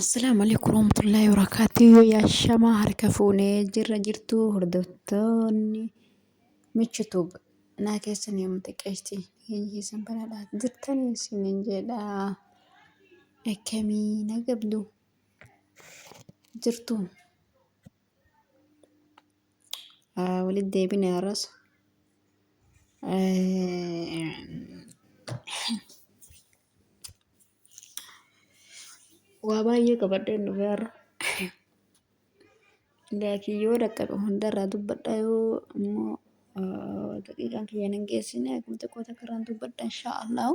Assalaamu alaikum warahmatullaahi wabarakaatuh. Yaa shamaa harka fuunee jirra jirtu hordoftoonni michituub naa keessan yommuu xiqqeessi hiyyeessan banaadha jirtan isinin jedha akkamii na gabdu jirtu. wali deebine arras waa baay'ee qabadheen dhufe arra laakiin yoo dhaqqabe hundarraa dubbadha yoo immoo daqiiqaan kiyyan hin geessine akkuma xiqqoo takka irraan dubbadha inshaa allahu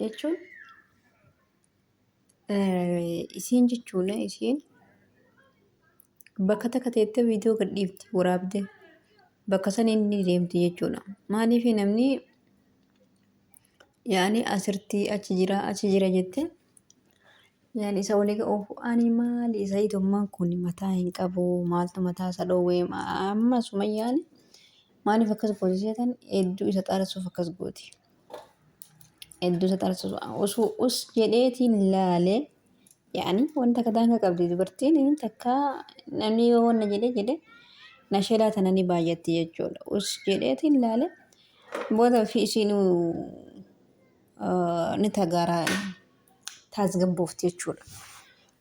jechuun isiin jechuun isiin bakka takka teettee viidiyoo gadhiifti waraabde bakka san inni deemti jechuudha. Maaliif namni yaani asirtii achi jira achi jira jette yaani isa walii oofu ani maali isa hiitummaan kun mataa hin qabu maaltu mataa isa dhoowwee amma sumayyaani maaliif akkas gooti seetan hedduu isa xaarasuuf akkas gooti. hedduu isa taasisu osoo us jedheetiin laale yaani wanta akka daanga qabdi dubartiin takka namni yoo wanna jedhe jedhe nasheedaa tana ni baay'atti jechuudha us jedheetiin laale booda fi isiin ni tagaara taasgabboofti jechuudha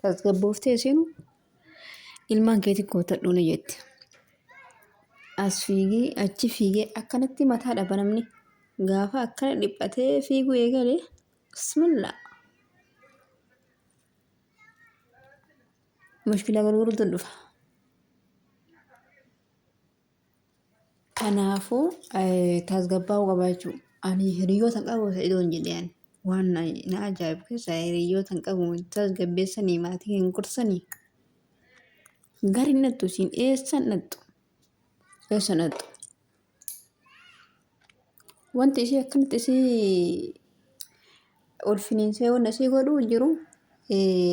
taasgabboofti isiin ilmaan keetiin kootadhuu ni jette. As fiigee achi fiigee akkanatti mataa dhaba namni gaafa akkana dhiphatee fiiguu eegale bismillaa. Mushkilaa gurguruutu dhufa. Kanaafuu tasgabbaa'uu qaba jechuudha. Ani hiriyoota hin qabu isa idoon jedhee ani. Waan na na ajaa'ibu keessaa hiriyoota hin qabu tasgabbeessanii maatii hin gorsanii. Gari nattu siin eessa nattu eessa nattu. Wanti ishee akkanatti isii ol finiinsee wanna isii godhuu jiru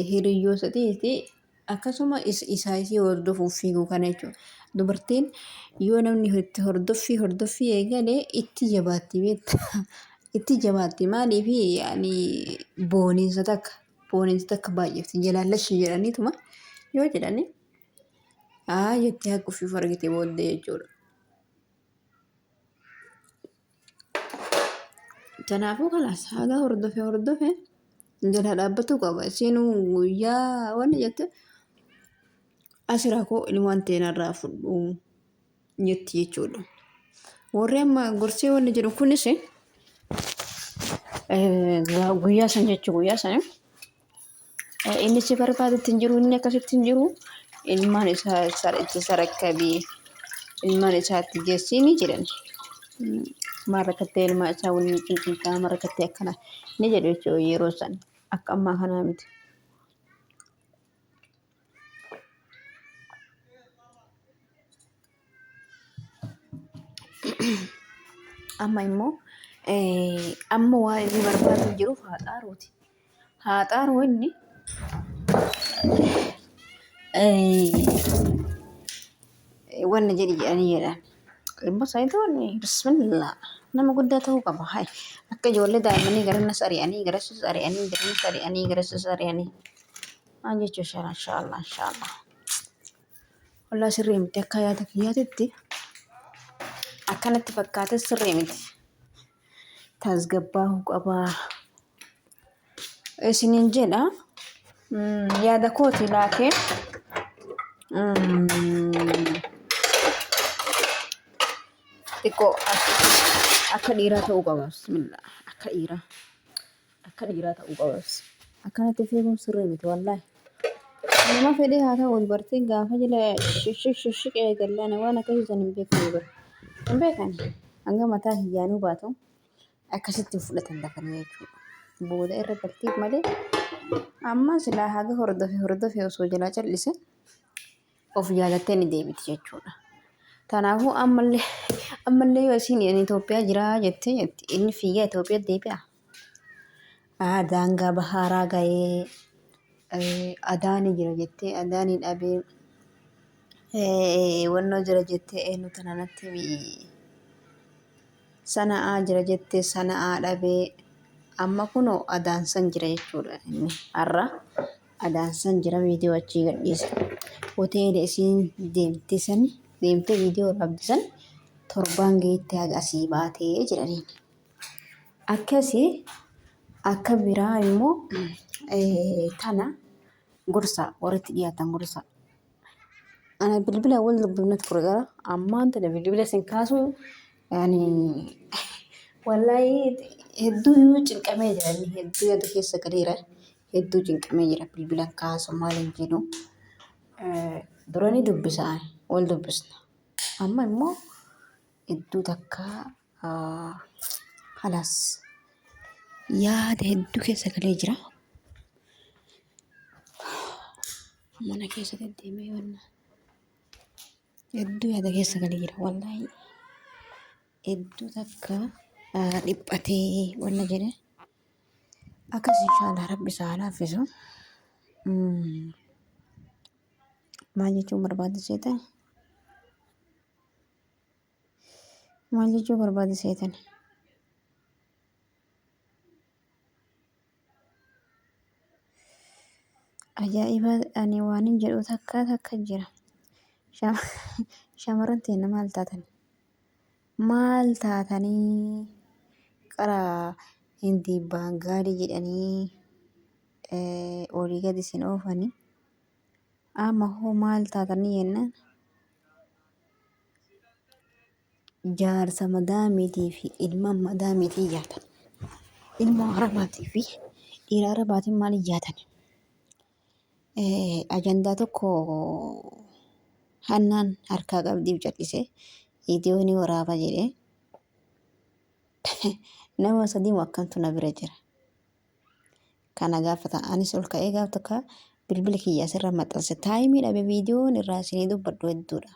hiriyyoosatii akkasuma isaa isii hordofuuf fiiguu kana jechuudha. Dubartiin yoo namni itti hordoffii hordoffii eegale itti jabaatti beekta. Itti jabaatti maaliif yaani booniinsa takka booniinsa takka baay'ifti jalaallashi jedhaniituma yoo jedhani haa jettee haquufiif argite booddee jechuudha. Kanaafuu kanas haga hordofe hordofe jala dhaabbatuu qaba. Isiin guyyaa wanni jette asira koo ilmaan teenarraa fudhu jetti jechuudha. Warri amma gorsee wanni jedhu kunis guyyaa san jechuu guyyaa sana. Innichi barbaadutti hin jiru inni akkasitti hin jiru ilmaan isaa itti sarakkabii ilmaan isaatti geessiini jedhan. Maal rakkattee ilmaa isaa waliin cinqintaa maal rakkattee akkana ni jedhu jechuudha yeroo san akka ammaa kanaa miti. Amma immoo amma waa inni barbaadu jiruuf haa xaaruuti. Haa xaaru inni wanna jedhi jedhanii jedhan. Immoo saayitoon bismillaa nama guddaa ta'uu qaba. Hayi akka ijoollee daa'immanii garannas ari'anii garassis ari'anii garannas ari'anii garassis ari'anii. Waan jechuu shara inshaallah inshaallah. Walaa sirrii miti akka yaada kiyyaatitti akkanatti fakkaate sirrii miti. Tasgabbaa'uu qabaa. Isiniin jedha mm, yaada kooti laakee mm, xiqqoo akka dhiiraa ta'uu qaba. Bismillah akka dhiiraa. Akka dhiiraa ta'uu qabas. Akkanatti of eeguun sirrii miti wallaahi. Nama fedhee haa ta'u dubartiin gaafa jila shishik shishik eegallaan waan akkasii san hin beekne bara. Hin beekan hanga mataa hiyyaanuu baatu akkasitti fudhatan dafanii jechuudha. Booda irra galtiif malee amma silaa haga hordofe hordofe osoo jalaa cal'ise of jaalattee ni deebiti jechuudha. Kanaafuu ammallee ammallee yoo isiin ani Itoophiyaa jiraa jettee jetti inni fiigaa Itoophiyaa deebi'a. Aa daangaa bahaaraa ga'ee eh, adaani jira jettee adaani dhabee eh, wannoo jira jettee eenyu tana natti himi. Sana'aa jira jettee sana'aa dhabee amma kunoo adaan san jira jechuudha inni har'a Adaansan jira viidiyoo achii gadhiisa. Hoteela isiin deemte san deemte viidiyoo raabdi san torbaan geette haga asii baatee jedhaniin. Akkasi akka biraa immoo tana gorsa warratti dhiyaatan gorsa. Ana bilbila wal dubbifna ture gara ammaan tana bilbila sin kaasuu ani wallahi hedduu cinqamee jira hedduu yaada keessa galeera. hedduu cinqamee jira bilbilan kaasu maalin jedhu dura ni dubbisaan wal dubbisna amma immoo hedduu takka halaas yaada hedduu keessa galee jira mana keessa deddeemee wanna hedduu yaada keessa galee jira wallahi hedduu takka dhiphatee wanna jedhe Akkas inshaallah rabbi isaa laaffisu. Maal jechuun barbaade seetan? Maal jechuu barbaade seetan? Ajaa'iba ani waanin jedhu takka takka jira. Shamarran teenna maal taatan? Maal taatanii qara Hindii Baangaalii jedhanii olii gadi isin oofanii amma hoo maal taatanii jennaan jaarsa madaamiitii fi ilma madaamiitii jaatan ilma arabaatii fi dhiira arabaatiin maal ijaatan ajandaa tokko hannaan harkaa qabdiif cal'isee viidiyoo ni waraaba jedhee nama sadii moo akkantu na bira jira. Kana gaafata anis ol ka'ee gaaf takka bilbila kiyya asirra maxxanse taayimii dhabe viidiyoon irraa isinii dubbadhu hedduudha.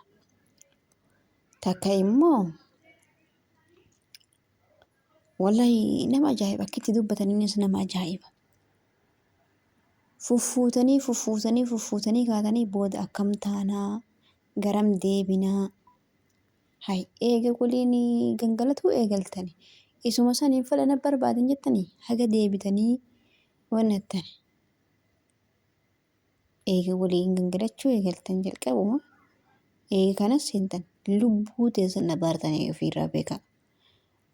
Takka immoo Wallahi nama ajaa'iba akka itti dubbataniinis nama ajaa'iba. Fuffuutanii fuffuutanii fuffuutanii kaatanii booda akkam taanaa garam deebinaa hay eega goliin gangalatuu eegaltani isuma saniin fala na barbaadan jettanii haga deebitanii wanni jettani. eega waliin gangalachuu eegaltan jalqabuma eega kanas seentan lubbuu teessan dhabaartanii ofiirraa beekaa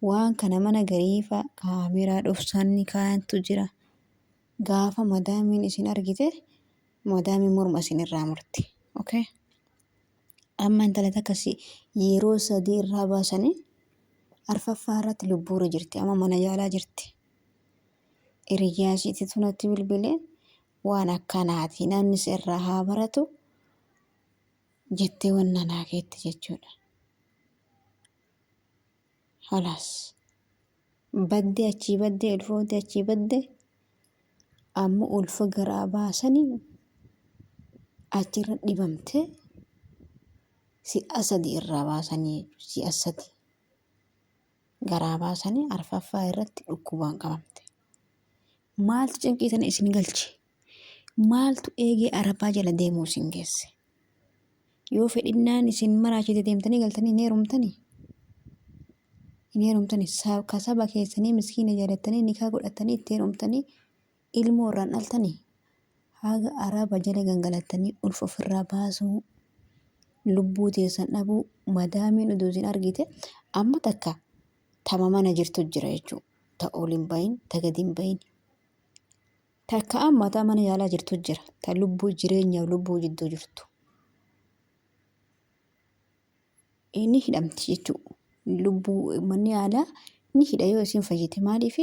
waan kana mana gariifa kaameeraa dhofsaan ni kaayantu jira gaafa madaamiin isin argite madaamiin morma isin irraa murte okay amma intala takkasi yeroo sadii irraa baasanii arfaffaa irratti lubbuura jirti amma mana yaalaa jirti. Hiriyyaa ishiitti tunatti bilbilee waan akkanaati namni si irraa haa baratu jettee wanna naa keetti jechuudha. Halaas baddee achii baddee ulfoofte achii badde amma ulfa garaa baasanii achirra dhibamte si'a sadi irraa baasanii si'a sadi. garaa baasanii arfaffaa irratti dhukkubaan qabamte. Maaltu cinqii sana isin galche? Maaltu eegee arafaa jala deemuu isin geesse? Yoo fedhinnaan isin maraachite deemtanii galtanii hin heerumtanii? Hin heerumtanii? Sa- Ka saba keessanii miskiina jaalattanii nikaa godhattanii itti heerumtanii ilmoo irraan dhaltanii haga araaba jala gangalattanii ulfa ofirraa baasuu lubbuu teessan dhabuu madaamiin odoo isin argite amma takka tama mana jirtu jira jechuu ta ol hin bahin ta gad hin bahin takka amma ta mana yaalaa jirtu jira ta lubbuu jireenyaaf lubbuu jidduu jirtu ni hidhamti jechuu lubbuu manni yaalaa ni hidha yoo isin fayyite maaliif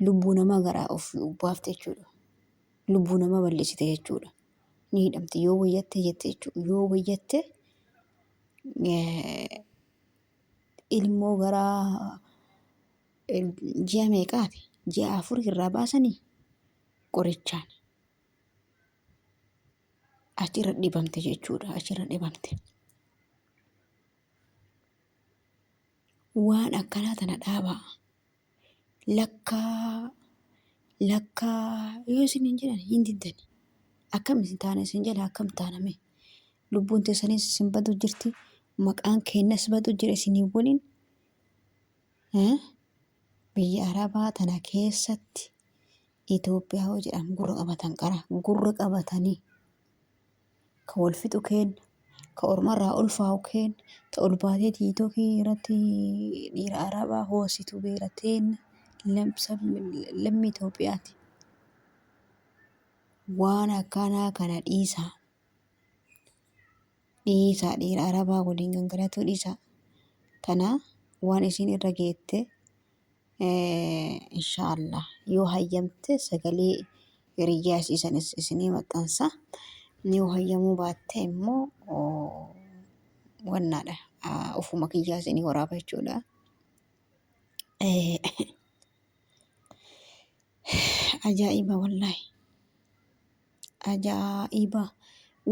lubbuu namaa garaa of baafte jechuudha lubbuu namaa balleessite jechuudha ni hidhamti yoo wayyatte jette jechuudha yoo wayyatte ilmoo garaa ji'a meeqaati ji'a afur irraa baasanii qorichaan achirra dhibamte jechuudha achirra dhibamte waan akkanaa tana dhaabaa lakkaa lakkaa yoo isin hin jedhan hin diddani akkam isin taana isin jala akkam taaname lubbuun teessanis isin badu jirti maqaan keenyas badu jira isinii waliin Eh? biyya arabaa tana keessatti Itoophiyaa yoo jedhan gurra qabatan qara gurra qabatanii ka wal fixu keen ka ormarraa ulfaa'u keen ta ol baatee tiitokii irratti dhiira arabaa hoositu beera teen lammii Itoophiyaati. Waan akkanaa kana dhiisaa. Dhiisaa dhiira arabaa waliin gangalatuu dhiisaa. Tanaa waan isiin irra geette. Inshaallah yoo hayyamte sagalee hiriyyaa isii sanis isinii maxxansa. Yoo hayyamuu baatte immoo wannaadha ofuma kiyyaa isinii waraaba jechuudha. Ajaa'iba wallaahi. Ajaa'iba!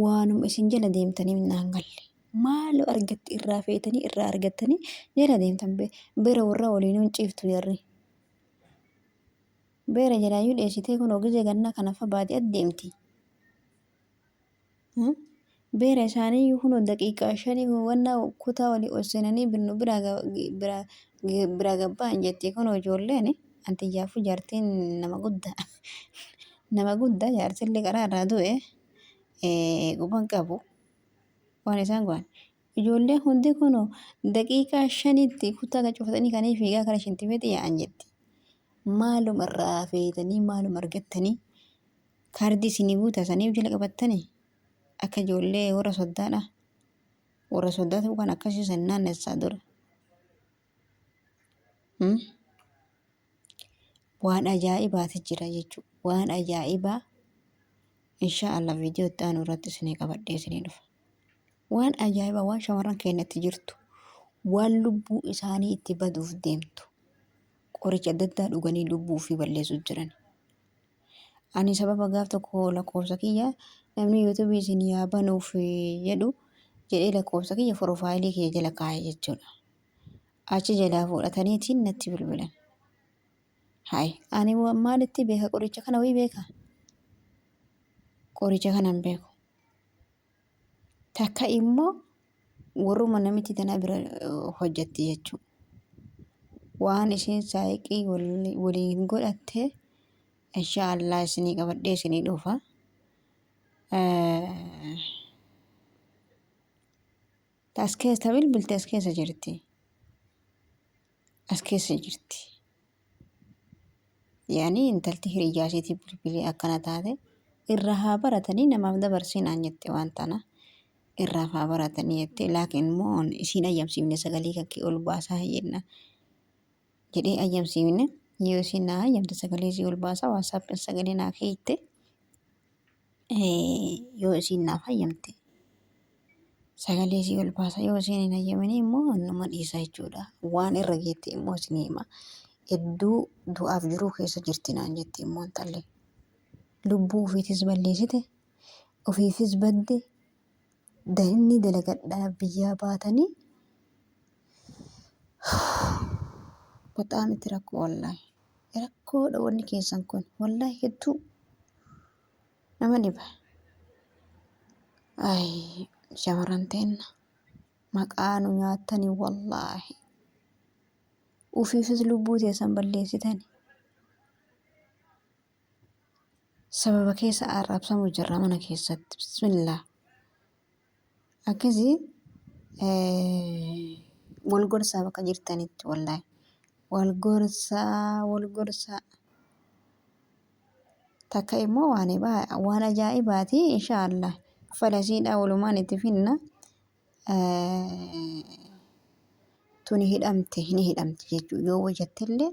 Waanuma isin jala deemtaniif naan galle. Maaloo argatti irraa feetanii irraa argattanii jala deemtan be- beera warraa waliin hin ciiftu jarri. Beera jalaayyuu dheessitee kunoo gizee gannaa kanafa baadiyyaatti deemti. Hmm? Beera isaanii iyyuu kunoo daqiiqaa shanii wanna kutaa walii ol seenanii binnu biraa ga- gi- biraa gi- biraa gabba'an jetti kunoo ijoolleen anti iyyaafu jaartiin nama guddaa nama guddaa jaarsillee karaa irraa du'e eh, quban qabu waan isaan godhan ijoolleen hundi kunoo daqiiqaa shanitti kutaa gad cufatanii kanii fiigaa kara shintibeeti yaa'an jetti maaluma irraa feetanii maaluma argattanii kaardii isinii guutaa saniif jala qabattanii Akka ijoollee warra soddaadha. Warra soddaatu kan akkasii san naannessaa dura. Hmm? Waan ajaa'ibaati jira jechuudha. Waan ajaa'ibaa insha Allah viidiyoo itti aanu irratti isinii qabadhee isinii dhufa. Waan ajaa'ibaa waan shamarran keenyatti jirtu waan lubbuu isaanii itti baduuf deemtu qoricha adda addaa dhuganii lubbuu ofii balleessuuf jiran. Ani sababa gaaf tokko lakkoofsa kiyya namni yuutuubii isin yaa banuuf jedhu jedhee lakkoofsa kiyya foroofaayilii kiyya jala kaa'e jechuudha. Achi jalaa fudhataniitiin natti bilbilan. Hayi ani wa- maalitti beeka qoricha kana wayii beeka? Qoricha kana hin beeku. Takka immoo warruma namiti tana bira hojjatti jechuudha. Waan isheen saayiqii waliin godhatte insha Allah isinii qabadhee isinii dhufa. As keessa bilbilti as keessa jirti. as keessa jirti. Yaani intalti hiriyyaa isheetii bilbilee akkana taate irraa haa baratanii namaaf dabarsii naan jette waan tana irraaf haa baratanii jette laakiin immoo an isiin ayyamsiifne sagalee kakkee ol baasaa jenna jedhee ayyamsiifne yoo isiin naa ayyamte sagalee isii ol baasaa waasaappiin sagalee naa keeyte yoo isiin naaf hayyamte sagalee isii ol baasa yoo isiin hin hayyaminii immoo annuma dhiisa jechuudha waan irra geette immoo isin hima hedduu du'aaf jiruu keessa jirti naan jetti immoo intalli lubbuu ofiitis balleessite ofiifis badde Daimnii dalagadhaa biyyaa baatanii baxaam itti rakkoo wallahi rakkoodha wanni keessan kun wallahi hedduu nama dhiba ay shamarran teenna maqaa nu nyaattanii wallaahi ufiifis lubbuu teessan balleessitani sababa keessa arrabsamu jirra mana keessatti bismillah akkasii wal gorsaa bakka jirtanitti wallahi wal gorsaa wal gorsaa takka immoo waan ibaa- waan ajaa'ibaati insha allah falasiidha walumaan itti finna tuni hidhamte ni hidhamte jechuu yoo wajattillee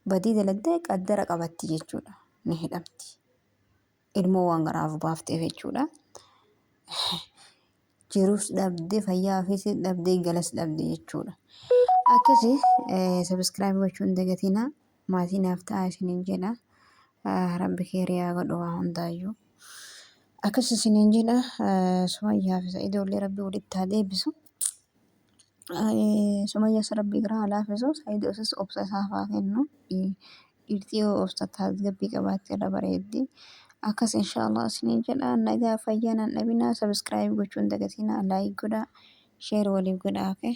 badii dalagdee qaddara qabatti jechuudha. Ni hidhamti. Ilmoo waan garaaf baafteef jechuudha. Jiruus dhabdee fayyaa ofiis dhabdee galas dhabdee jechuudha. Akkasi sabiskiraayib gochuun dagatina maatii naaf ta'a isiniin jedha. Rabbi keeriyaa godhu waa hundaayyuu. Akkasi isiniin jedha. Sumayyaa fi Sa'idoollee rabbi walitti haa deebisu. Sumayyaas rabbi irraa haa laafisu sayidoofis obsa isaaf haa kennu dhiirti yoo obsa tasgabbii qabaatte irra bareeddi akkas inshaallah isiniin jedha nagaa fayyaa naan dhabinaa sabiskiraayib gochuu hin dagatinaa laayik godhaa sheer waliif godhaa okay.